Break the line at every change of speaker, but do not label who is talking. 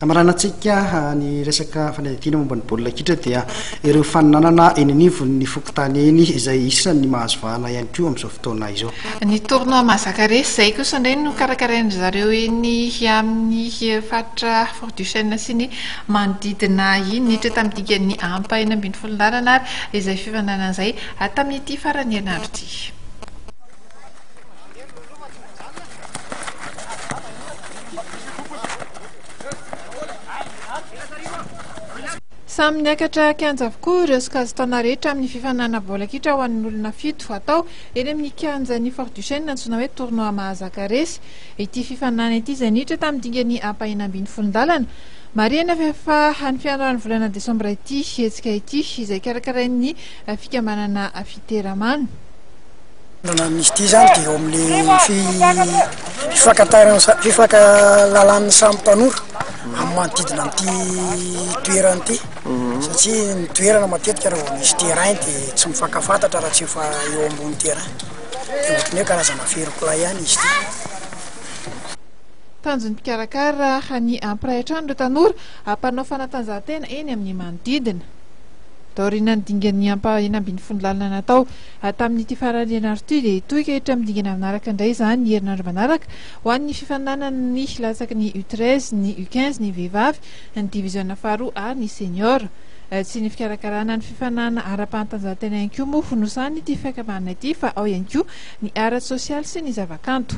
Hamaranantsika ny resaka fanadihadiana momba ny baolina kitra dia ireo faninanana eny anivon'ny fokontany eny izay isan'ny mahazo vahana ihany koa amin'izao fotoana izao. Ny tournoi
mahazaka resy izay kosa indray no karakarain-dry zareo eny amin'ny faritra Fort du Chêne sy ny manodidina iny. Niditra tamin'ny dikany ampa enina ambin'ny folo laharana ary izay fifaninanana izay tamin'ity faran'ny herinandro ity. Samy niakatra kianja avokoa ireo sokajin-taona rehetra amin'ny fifaninanana baolina kitra ho an'ny olona fito atao eny amin'ny kianjan'ny Fort Duchesne antsoina hoe Tournoi Mahazaka Resy. Ity fifaninanana ity izay niditra tamin'ny dingany ampahena ambin'ny folo ndalana. Marihana fa efa any fiandohan'ny volana desambra ity hetsika ity izay karakarain'ny fikambanana Fiteramano.
Amin'izy ity zany dia eo amin'ny fifankatarana fifankahalalan'ny samy tanora amin'ny manodidina an'ity toerana ity satria ny toerana matetika raha vao misy terrain dia tsy mifankafantatra raha tsy efa eo ambony terrain dia ohatran'ny hoe karazana ferin-kilahy ihany izy ity.
Tanjon'ny mpikarakara raha ny hampiray hatrany ireo tanora mpanao fanatanjahantena eny amin'ny manodidina. Taorian'ny dingan'ny ampahany ambin'ny folo lalana natao, Hatramin'ity farany ianarako ity dia hitohy ka hiditra amin'ny dingana manaraka indray izany ny herinandro manaraka ho an'ny fifaninanana ny latsaky ny U treize, ny U quinze, ny vehivavy, ny diviziona faharoa ary ny seniors. Tsy ny fikarakarana ny fifaninanana ara-panatanjahantena ihany koa moa no sahanin'ity fiakabanana ity fa ao ihany koa ny ara-tsosialy sy ny zavakanto.